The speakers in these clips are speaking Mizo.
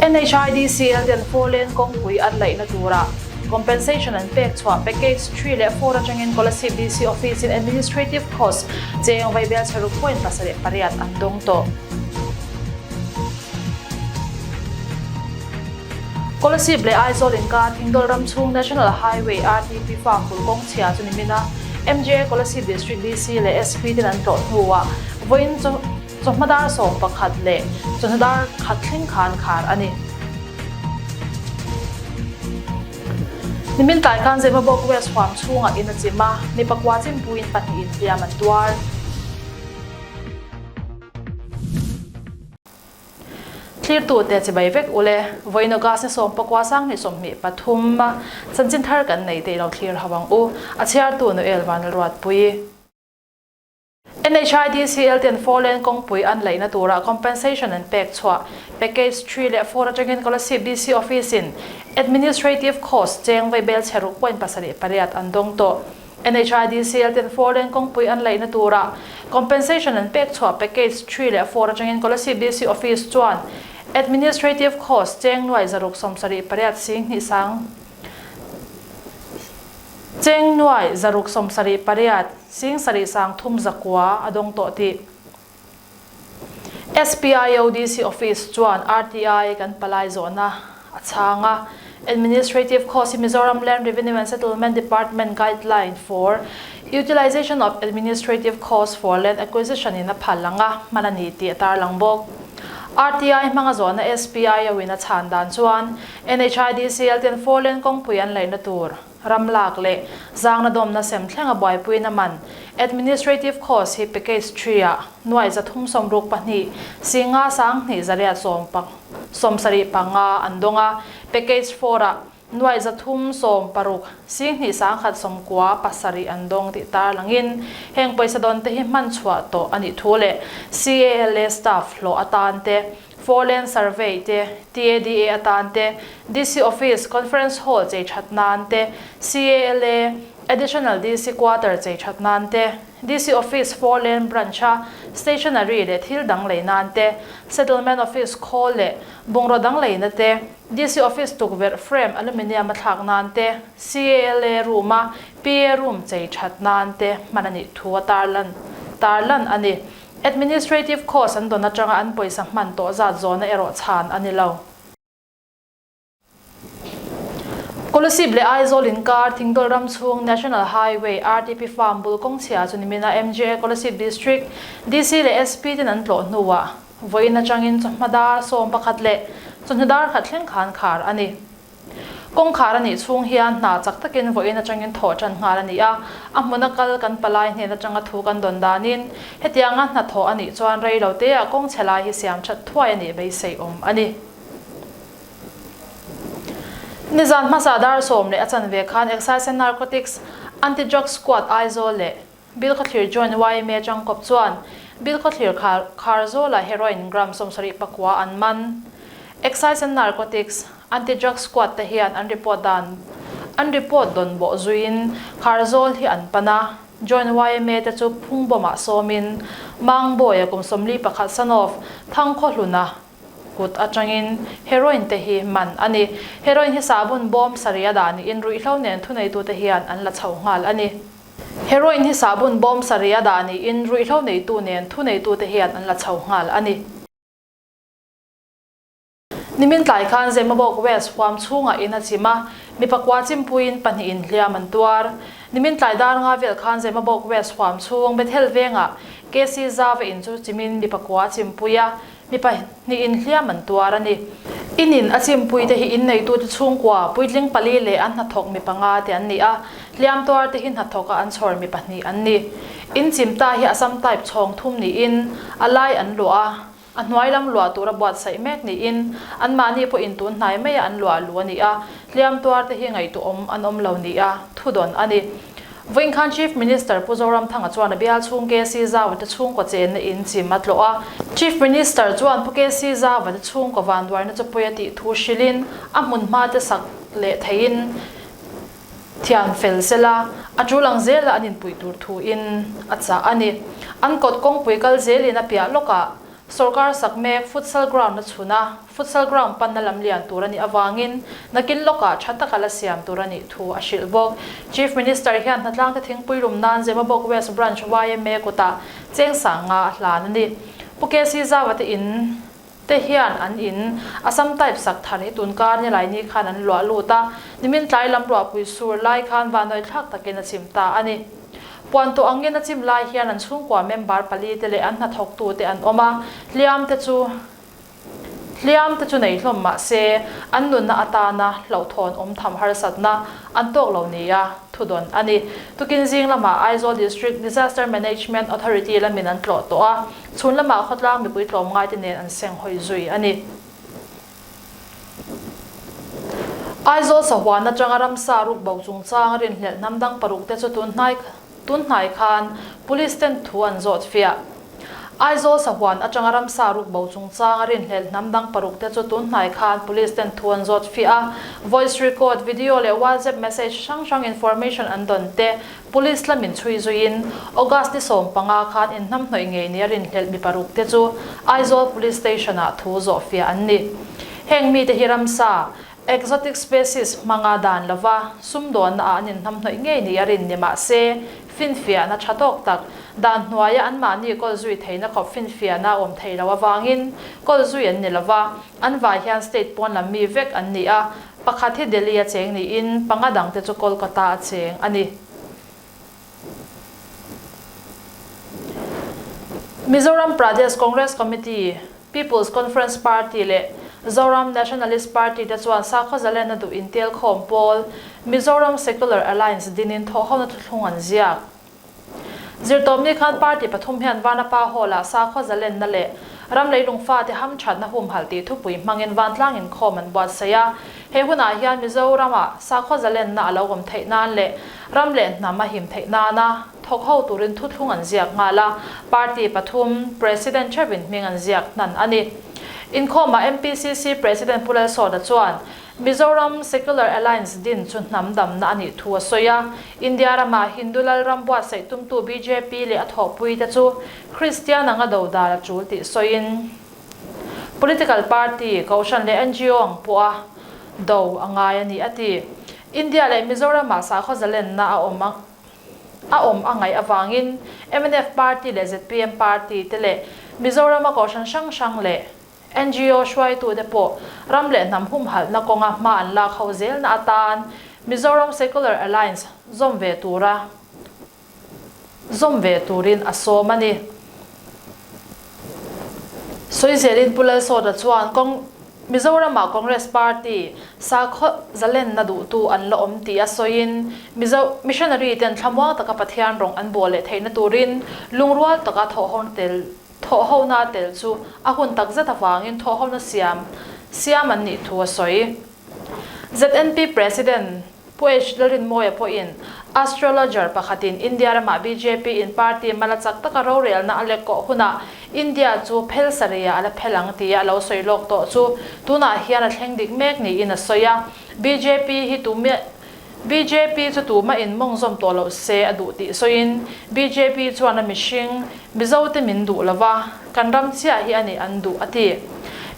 NHIDCL ten four lane kawngpui atlaihna tura Compensation an pek chhuah Package three leh four atangin Kolasib DC Office in Administrative Cost cheng vai Belchharu Point pasa leh pariat an dawng tawh. Kolasib leh Aizawl inkar Thingdol ramchhung National Highway RTP fa phul kawng chhia chu ni min a, MGA Kolasib District DC leh SP ten an tlawh hnuah vawiin chu, Chawhma dar sawm pakhat leh chawhna dar khat thleng kha an khar a ni. Nimin tlai khan Zemabawk West huam chhungah in a chim a, mi pakua chimpuiin pahnih in hliam an tuar. Thlirtute chibai vek u le, Vawino Gasni sawm pakua sang hnih sawmhnih pathuma chanchin thar kan nei te i lo thlir ho ang u, a chhiartu Noel Vanlalruatpuii. NHIDCL ten four lane kawngpui an laihna tura compensation an pek chhuah. Package three leh four atangin Kolasib DC office in administrative cost cheng vei belchher ruk point pasarih pariat an dawng tawh. NHIDCL ten four lane kawngpui an laihna tura compensation an pek chhuah package three leh four atangin Kolasib DC office chuan administrative cost cheng nuai zaruk sawmsarih pariat sing hnih sang Cheng nuai zaruk sawm sarih pariat sing sarih sang thum zakua a dawng tawh tih. SPIODC office chuan RTI kan palai zawhna a chhang a, Administrative Cost hi Mizoram Land Revenue and Settlement Department Guideline for Utilisation of Administrative Costs for Land Acquisition in a phal ang a hman a ni tih a tarlang bawk. RTI hmanga zawhna SPIO-in a chhan dan chuan NHIDC LTN Fourlane kawngpui an laihna tur, ram lak leh zangna dawmna sem thlenga buaipuina man, Administrative Cost, hi Package Three ah nuai za thum sawm ruk pahnih, Singa sang hnih zariat sawm pang, sawm sarih panga an dawng a, Package Four ah nuai za thum sawm paruk, sing hnih sang khat sawm kua pasarih an dawng tih tarlangin heng pawisa dawnte hi hman chhuah tawh a nih thu leh CALA staff hlawh atante Foreland Survey te, TADA atan te, DC Office, Conference Hall chei that nan te, CALA, Additional DC Quarter chei that nan te, DC Office Foreland Branch a stationery leh thil dang lei nan te, Settlement Office khawl leh bungraw dang lei na te, DC Office tukverh frame aluminium a thlak nan te, CALA Room a PA Room chei that nan te hman a nih thu a tarlan tarlan a ni. Administrative cost an dawn atanga an pawisa hman tawh zat zawna erawh chhan a ni lo. Kolasib leh Aizawl inkar Thingdol ram chhung National Highway, RTP Farm, bul kawng chhiah chu nimin a MGA Kolasib District, DC leh SP ten an tlawh hnuah vawiin atangin chawhma dar sawm pakhat leh chawhnu dar khat thleng khan khar a ni. Kawngkhar a nih chhung hian hna chak takin vawiin atangin thawh tan nghal a ni a, a hmun a kal kan palai hnen atanga thu kan dawn danin hetianga hna thawh a nih chuan rei lo teah kawng chhe lai hi siam that thuai a nih beiseiawm a ni. Nizan hmasa dar sawm leh a chanve khan Excise and Narcotics, Anti-Drug Squad, Aizawl leh. Bill khawthlir John YMA Changkop chuan Bill khawthlir kha khar zawla Heroin gram sawm sarih pakua an man. Excise and Narcotics, Anti Drug Squad te hian an report dan an report dawn bawh zuiin khar zawl hi an pan a, John YMA te chu phung bawmah sawmin Mang Bawia kum sawmli pakhat son of Thang Khaw Hluna kut atangin Heroin te hi man a ni. Heroin hi sahbun bawm sarih a dah niin ruihhlo nen thuneitute hian an la chho nghal a ni. Heroin hi sahbawn bawm sarih a dah niin ruihhlo neitu nen thu neitute hian an la chho nghal a ni. Nimin tlai khan Zemawbawk West huam chhungah in a chim a, mipa kua chimpuiin pahnih in hliam an tuar. Nimin tlai dar nga vel khan Zemawbawk West huam chhung Bethel vengah KC Zava in chu chimin mipa kua a chimpui a, Mi pahnih in hliam an tuar a ni. In in a chimpui te hi in neitute chhungkua puitling pali leh an hnathawk mi panga te an ni a, hliam tuar te hi hnathawk a an chhawr mi pahnih an ni. In chimta hi Assam type chhawng thum niin a lai an luah a, a hnuai lam luah tura buatsaih mek niin anmahni pawh in tun hnai maia an luah a lu a ni a, hliam tuar te hi ngaihtuawm an awm lo nia thu dawn a ni. Vawinkhanh Chief Minister Pu Zoramthanga chuan a bial chhung KC Zawate chhungkaw chenna in chim a tlawh a. Chief Minister chuan Pu KC Zawate chhungkaw vanduaina chawpui a tih thu hrilhin a hmunhma te sak leh theihin thian fel sel a, a tul ang zela an inpuih tur thu in a chah a ni. An kawt kawngpui kal zelin a piah lawkah sawrkar sak mek futsal ground a chhun a. Futsal ground panna lam lian tur a nih avangin nakin lawkah tha taka la siam tur a nih thu a hrilh bawk. Chief Minister hian Hnatlangte thingpui rum nan Zemabawk West Branch yma kutah cheng sang nga a hlan a ni. Pu KC Zawa te in te hian an in Assam type sak than i tun kar ni laini khan an luah lut a, nimin tlai lam ruahpui sur lai khan vanawih thlak takin a chim ta a ni. Puan tawh angin a chim lai hian an chhungkua member pali te leh an hnathawk tu te an awm a, hliam te chu. Hliamte chu nei hlawm mah se, an nunna atana hlauhthawn awm tham harsatna an tawk lo nia thudawn a ni. Tukin zing lamah Aizawl District Disaster Management Authority la min an tlawh tawh a, chhun lamah khawtlang mipui tlawm ngaite nen an seng hawi zui a ni. Aizawl sahuan atanga ramsa ruk bo chungchang rinhlelh hnam dang paruk te chu tun hnai kha. Tunhnai khan Police ten thu an zawt fiah. Aizawl sahuan atanga ramsa ruk bo chungchang a rinhlelh hnam dang paruk te chu tunhnai khan Police ten thu an zawt fiah a, voice record, video leh WhatsApp message hrang hrang information an dawn te Police la min chhui zuiin August ni sawm panga khan inhnam hnawih ngei nia rinhlelh mi paruk te chu Aizawl Police Station ah thu zawh fiah an ni. Heng mite hi ramsa. Exotic species hmanga dan lova sumdawnna ah an inhnam hnawih ngei ni a rin ni mah se, finfiahna tha tawk tak dan hnuaia anmahni kawlzui theihna khawp finfiahna awm theih loh avangin kawlzui an ni lova, an vai hian state pawnlam mi vek an ni a, pakhat hi Delhi a cheng niin panga dangte chu Kolkata a cheng a ni. Mizoram Pradesh Congress Committee, People's Conference Party leh Zoram Nationalist Party te chuan Sakhawzalena duh intelkhawm pawl Mizoram Secular Alliance dinin thawhhona thuthlung an ziak. Zirtawpni khan party pathum hian Vanapa Hall ah Sakhawzalenna leh ram leilung fate hamthatna humhalh tih thupui hmangin vantlang inkhawm an buatsaih a, He hunah hian Mizorama sakhaw zalenna a lo awm theih nan leh ram leh hnam a him theih nana thawk ho turin thuthlung an ziak nghal a, party pathum President Chevin hming an ziak hnan a ni. Inkhawma MPCC President Pu Lalsawda chuan Mizoram Secular Alliance din chu hnam damna a nih thu a sawi a, India rama Hindu Lalram buatsaih tumtu bjp leh a thawhpui te chu Kristian anga do dal a chul tih sawiin, Political party, Kohhran leh NGO ang pawha do a ngai a ni, a ti. India leh Mizoram-ah sakhaw zalenna a awm ang a awm a ngaih avangin mnf party leh zpm party te leh Mizorama Kohhran hrang hrang leh NGO hruaitute pawh ram leh hnam humhalhna kawnga hma an lak ho zelna atan Mizoram Secular Alliance zawm ve tura zawm ve turin a sawm a ni. Sawi zelin Pu Lalsawta chuan kawng Mizorama Congress Party sakhaw zalenna duhtu an la awm tih a sawiin Mizo Missionary ten thlamuang taka Pathian rawng an buah leh theihna turin lungrual taka thawhhawna tel thawhhawna tel chu a hun takzet avangin thawhhawna siam siam an nih thu a sawi. ZNP President Pu H La Rinmawia pawhin astrologer pakhatin India ramah bjp in party mala chak taka rorelna a lekawh hunah India chu phel sarei ah a la phel ang tih a lo sawi lawk tawh chu tunah hian a thleng dik mek niin a sawi a. Bjp hi tumah. Bjp chu tumah in mawng zawm tawh loh se a duh tih sawiin bjp chuan a mihring, Mizote min duh lo va, kan ram chiah hi a nih an duh a ti.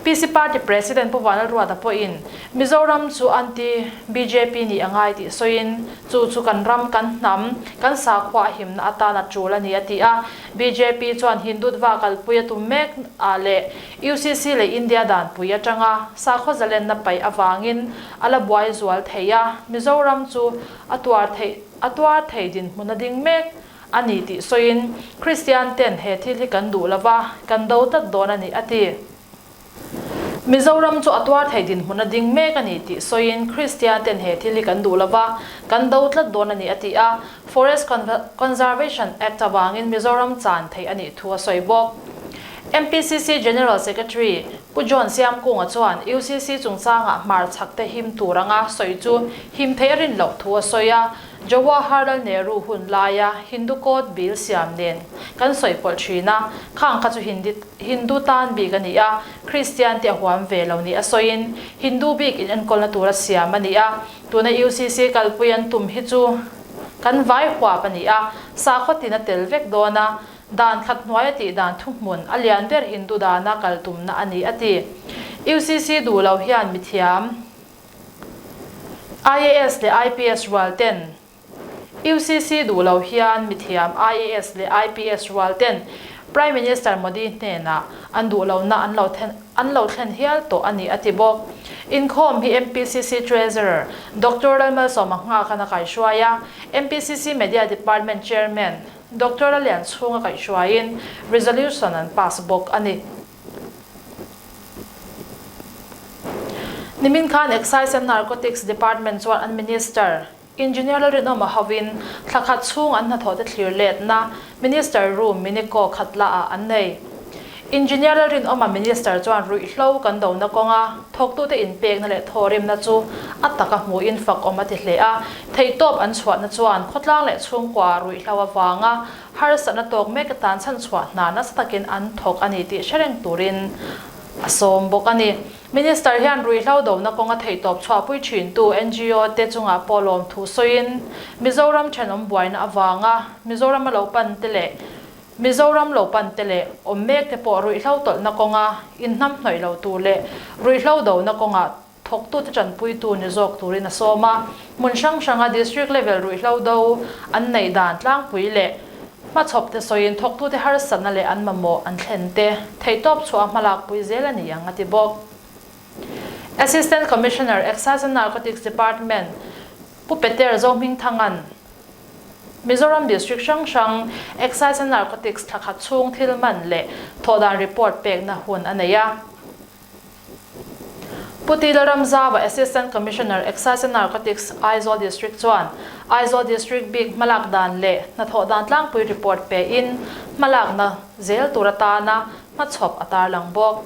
PC party president Pu Vanlalruata pawhin Mizoram chu an ti bjp nih a ngai tih sawiin chu chu kan ram, kan hnam, kan sakhua a himna atan a tul a ni a ti a. Bjp chuan Hindutva kalpui a tum mek ah leh UCC leh India danpui atanga sakhaw zalenna paih avangin, A la buai zual thei a, Mizoram chu a tuar theih a tuar thei dinhmun a ding mek a ni tih sawiin Kristiante'n he thil hi kan duh lo va, kan do tlat dawn a ni, a ti. Mizoram chu a tuar thei dinhmun a ding mek a ni tih sawiin Kristiante'n he thil hi kan duh lo va, kan do tlat dawn a ni, a ti a. Forest Conservation Act avangin Mizoram chan theih a nih thu a sawi bawk. MPCC General Secretary Pu John Siamkunga chuan UCC chungchanga hmar chhakte him tur anga sawi chu him theih rin loh thu a sawi a, Jawaharlal Nehru hun laia Hindu Code Bill siam nen kan sawipawlh thin a, khang kha chu Hindi Hindu tan bik a ni a, Kristian te a huam ve lo nih a sawiin Hindu bik inenkawl-na tur a siam a ni a, tuna UCC kalpui an tum hi chu kan vai huap a ni a, sakhaw tin a tel vek dawn a, dan thlap hnuaia tih dan thuhmun a lian ber Hindu dana kal tumna a ni a ti. UCC duh lo hian mithiam, IAS leh IPS rual ten UCC duh lo hian mithiam, IAS leh IPS rual ten Prime Minister Modi hnenah an duh lohna an lo thlen an lo thlen hial tawh a ni a ti bawk. Inkhawm hi MPCC Treasurer Doctor Lalmalsawma Nghakan a kaihruai a, MPCC Media Department Chairman, Doctor a lian chhung a kaih hruaiin resolution an pass bawk a ni. Nimin khan Excise and Narcotics Department chuan an Minister Engineer Lalrinawm a hovin thla khat chhung an hnathawhte thlir letna Minister Ru Miniko Khatla-ah an nei. Engineer Lalrinawma Minister chuan ruihhlo kan dona kawnga thawktute inpekna leh thawhremna chu a taka hmuhin fakawm a ti hle a, theihtawp an chhuahna chuan khawtlang leh chhungkua ruihhlo avanga harsatna tawk meka tan chhan chhuah hna nasa takin an thawk a ni tih hre reng turin a sawm bawk a ni. Minister hian ruihhlo dona kawnga theihtawp chhuahpui thintu NGO te chungah pawhlawm thu sawiin Mizoram thenawm buaina avanga Mizoram a lo pante leh Mizoram lo pan te leh awm mek te pawh ruihhlo tawlhna kawnga inhnam hnawih lo tur leh ruihhlo dona kawngah thawktute tanpui tu ni zawk turin a sawm a, hmun hrang hranga district level ruihhlo do an neih dan tlangpui leh hmachhawp te sawiin thawktute harsatna leh an mamawh an thlen te theihtawp chhuaha hmalakpui zel a ni ang a ti bawk. Assistant Commissioner, Excise and Narcotics Department, Pu Peter Zohmingthanga'n Mizoram district hrang hrang Excise and Narcotics thlakhat chhung thil man leh thawhdan report pekna hun a nei a. Pu Tila Ramzava, Assistant Commissioner, Excise and Narcotics, Aizawl district chuan Aizawl district bik hmalak dan leh hnathawh dan tlangpui report pein hmalakna zel tur atana hmachhawp a tarlang bawk.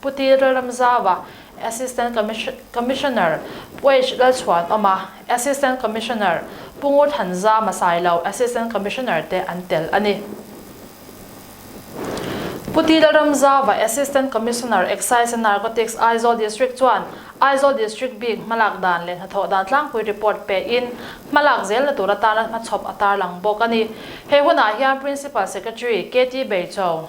Pu Ti Rilram Zawa, Assistant Commissioner, Pu H Lalchhuanawma, Assistant Commissioner, Pu Ngur Than Za Masailo, Assistant Commissioner, te an tel a ni. Pu Ti Lalram Zawa, Assistant Commissioner, Excise and Narcotics, Aizawl District chuan Aizawl District bik hmalak dan leh hnathawh dan tlangpui report pehin hmalak zel la tur atan an hmachhawp a tarlang bawk a ni. He hunah hian Principal Secretary, KT Beicho,